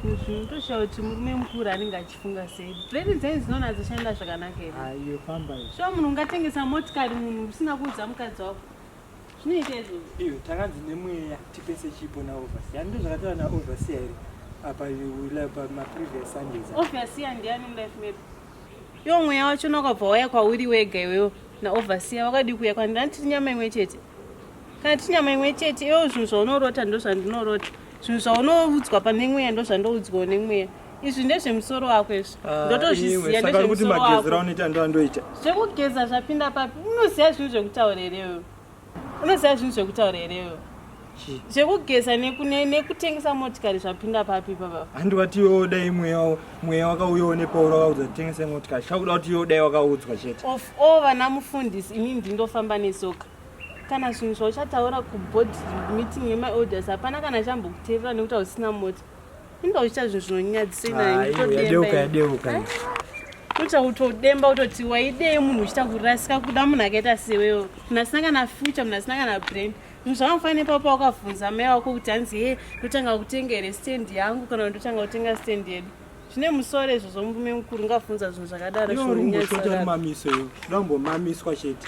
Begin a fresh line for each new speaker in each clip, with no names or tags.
ndotoshawa kuti murume mukuru anenge achifunga sei breni dzenyu dzinoona dzoshanda zvakanaka here shuwa
munhu ungatengesa
motikari munhu usina kuudza mukadzi wako zvinoita izvozvo iyo takanzi
nemweya tipese chipo naovasi yani ndozvakataura naovasi here apa pamaprevious sundays ovasi yandiani mulife
medu yo mweya wacho nakabva waya kwauri wega iwewo naovasiya wakadii kuya kwandina tiri nyama imwe chete kana tiri nyama imwe chete iwewo zvinhu zvaunorota ndozvandinorota zvinhu zvaunoudzwa pane mweya ndozvandoudzwawo nemweya izvi ndezvemusoro wako izvi ah, ndotozviziva ndezvemusoro wakoanoita
zvekugeza zvapinda
papi unoziva zvinhu zvekutaura herewe unoziva zvinhu zvekutaura herewe zvekugeza nekutengesa motikari zvapinda papi papa handi wati iwewo dai
mweya wakauyawo nepauro wakaudza kutengesa motikari chakuda kuti iwewo dai wakaudzwa chete of all vana
mufundisi inini ndindofamba nesoka kana zvinhu zvauchataura kubod meeting yemaelders hapana kana chambokuteerera nekuti hausina mota Imba uchiita zvinhu zvinonyadzisa inani kutodemba. Yadeuka yadeuka.
Unoita
kutodemba utoti waidei munhu uchita kurasika kuda munhu akaita sewewo. Munhu asina kana future, munhu asina kana brain. Munhu zvakamufana ipapo wakavhunza mai wako kuti hanzi he ndotanga kutenga here stand yangu kana kuti ndotanga kutenga stand yedu. Zvine musoro izvo zvomurume mukuru ngavhunza zvinhu zvakadaro Iwe uri zvinonyadzisa. kumbosota mamiso
iwe. Unombomamiswa chete.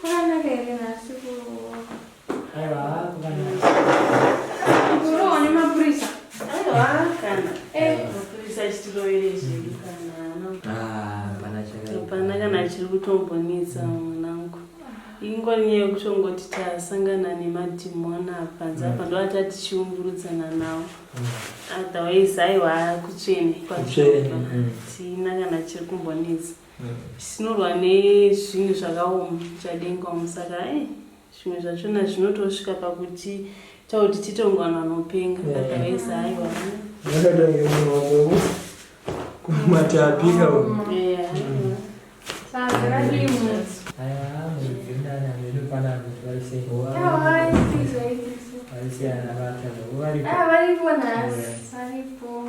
Kukanaka here nhasi kurowa? Aiwa kukanaka. Kurowa nemapurisa? Aiwa kana. Eh, mapurisa achitiroyere zvedu kana. Ah, pana chakaipa. Pana kana chiri kutombonetsa mwanangu. Ingori nyaya yekutongoti tasangana nemadhimoni apa nzi apa mm. ndoati atichiumburudzana nawo. Mm. Otherwise aiwa kutsvene. Kutsvene. Mm. Tina kana chiri kumbonetsa. sinorwa nezvinhu zvakaoma chadenga umu saka e zvimwe zvachona zvinotosvika pakuti tauti titongwana anopenga otherwise haiwa akatange munhu
wakovo kumati apika varipo nhasi varipo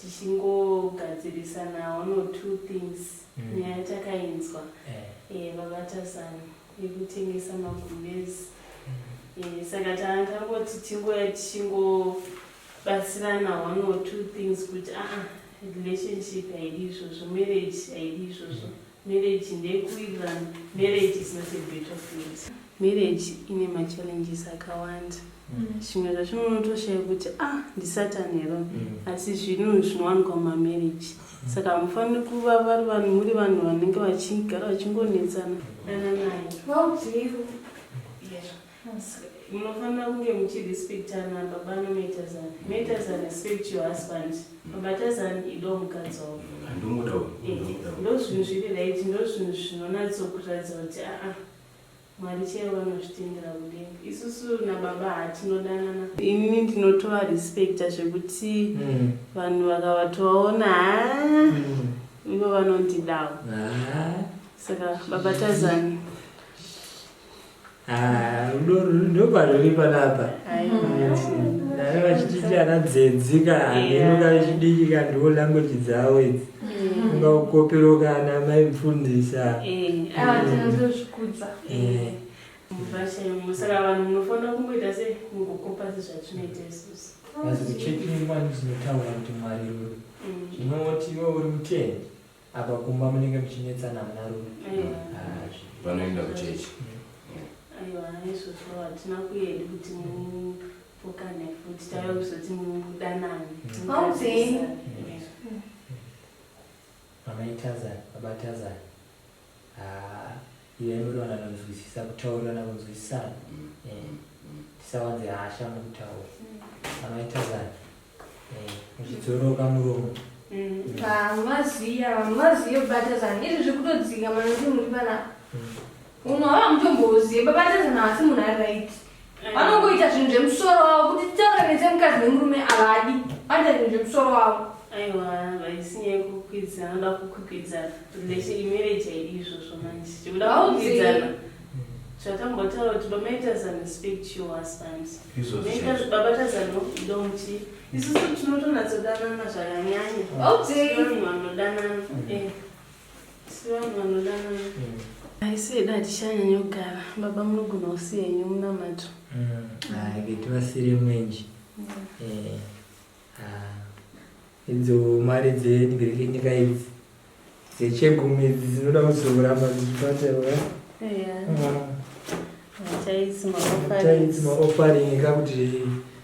tichingogadzirisana one or two things mm. nyaya takainzwa eh. eh, vabata zano yekutengesa magumezi mm. eh, saka tanga tangoti tingoya tichingobatsirana one or two things kuti aa ah, ah, relationship haidi izvozvo marriage haidi izvozvo mm. Marriage ndeyekuwirirana. Marriage is not a battlefield. Marriage ine machallenges akawanda. Zvimwe zvacho unotoshaya kuti ah ndisatan hero asi zvinhu zvinowanikwa mumamarriage. Saka hamufaniri kuva vari vanhu muri vanhu vanenge vachigara vachingonetsana. Dananai. Vaudzei ru. Yes. Munofanira kunge muchirespectana baba nometazan. Metazan respect your husband. Babatazan ido mukadzi wavo. Ndomuda uyu. Eh, ndozvinhu zviri right, ndozvinhu zvinonatsokuratidza kuti aa mwari chaivo vanozvitendera kudenga isusu nababa hatinodanana ini ndinotovarespecta zvekuti hmm. vanhu mm. vakavatovaona haa mm. ivo vanondidawo ah. saka baba tazani
Ah, ndoparuri panapa nave vachititi ana dzedzika inoka vechidiki kandiwo language dzavo idzi unga ukoperoka ana mai mfundisa saka vanhu
munofanira kungoita
se mukukopa sezvatinoita isusu asi kuchekimwa
ndizinotaura kuti mwari uri ndinoti iwe uri mutendi Apa kumba munenge muchinetsana muna rume.
Vanoenda kuchechi. Aiwa
izvozvo hatina kuenda kuti mupokane futi tave kuzoti mudanane. Maudzeyi.
Mama itazana, baba tazana. Ah. Iwe muri vanhu vanonzwisisa, kutaurirana kunzwisisana. Tisawanze hasha mukutaura. Amai Tazani, muchidzoroka muromo. Maziya,
maziya batazani, izvi zvikutodzika manje muri vana. Uno hava mutomboziya, babatazana asi munhu ari right. vanongoita zvinhu zvemusoro wavo kuti titauranize mukadzi nemurume avadi vanoita zvinhu zvemusoro wavo aiwa
vaisinyai kukwidza anoda kukwikwidza relation imarriage haidi izvozvo manje chekuda kukwidzana zvatambotaura kuti bamaitazano speak to your husband babatazano idomuti isusu tinotonatsodanana zvakanyanya vanhu vanodanana aise dati chanyanya kugara baba munogona kusiya henyu munamato haiketi
mm. vasiri mwenji mm. eh, ah. idzo mari dzenyika idzi dzechegumi idzi dzinoda kuzoramba dzichibatirwa eh? ah. chaitsi maofaringi kakuti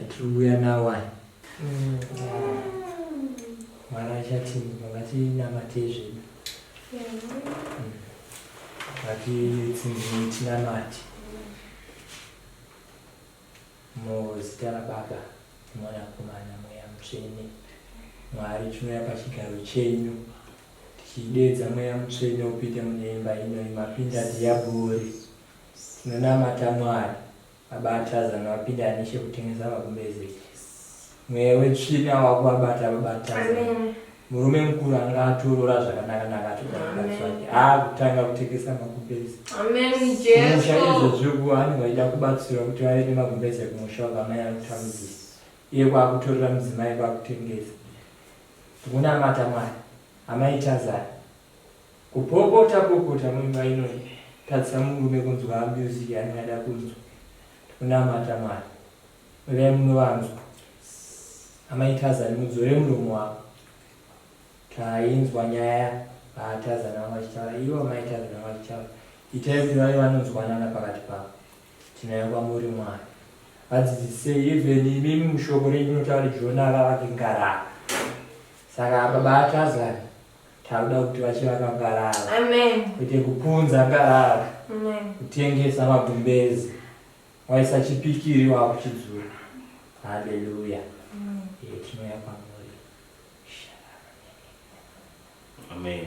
Atiri kuuya nawo aya. Mwana achatimuka ngatinamatei zvedu. Ngatitsinzimei tinamate. Muzita raBaba Mwanakomana Mweya Mutsvene. Mwari tinouya pachigaro chenyu tichideedza Mweya Mutsvene upinde mune imba ino imapinda dhiyabhori. Tinonamata Mwari. Baba Tarzan vapinda neche kutengesa vakumbeze mweya wetsvina wakuvabata baba Tarzan murume mukuru anga atorora zvakanaka naka atoaake aakutanga kutengesa makumbeze kumusha
izvozvikuva anenge vaida
kubatsirwa kuti vave nemakumbeze kumusha wakamai akutamudzisa iye kwakutorera mudzimai kwakutengesa tikunamata mwari amai Tarzan Kupopota popota muimba ino ine. Tadzisa murume kunzwa music yanenge ada kunzwa. Tikunamata Mwari. Uyai munovanzwa. Amai Tazani mudzore muromo wako. Tainzwa nyaya ah Tazani vanga vachitaura ivo amai Tazani vanga vachitaura. Itai kuti vave vanonzwanana pakati pavo. Tinauya kwamuri Mwari. Vadzidzisei even imimi mushoko renyu munotaura Jona ava vake ngarava. Saka apa baTazani Tauda kuti vachivaka ngarava. Amen. Kuti
kupunza
ngarava. Amen. Kutengesa magumbezi. Waisa chipikiri wakuchidzura. Hallelujah. Amen. Ye tinoya pamwe.
Amen.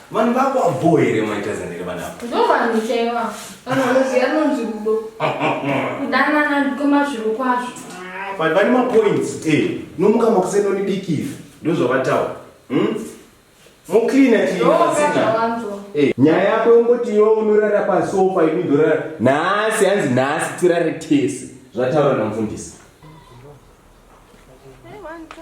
Vanhu vako abho
here maita zanere vana ava? Ndovanhu
chaiva. Anonzi anonzi rudo. Kudanana ndikoma zviro kwazvo. But vane
mapoints eh nomuka makuseni onibikiza ndozvavataura. Hmm? Mucleaner chii pasina.
Eh, nyaya yako
yongoti yo unorara pasofa ini ndorara. Nhasi hanzi nhasi tirare tese. Zvataura namufundisi. Hey, one, two,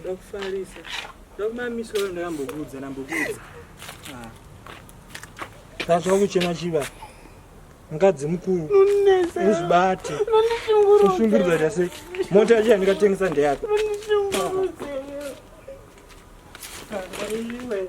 Ndoda kufarisa. Ndoda kumamisa wewe ndakambokuudza ndambokuudza. Ah. Tazwa kuchema chiva. Mukadzi mukuru. Unonesa. Uzibate. Unonishungurudza. Ushungurudza jase. Mota yacho yandikatengesa ndeyako. Unonishungurudza. Kangaiwe.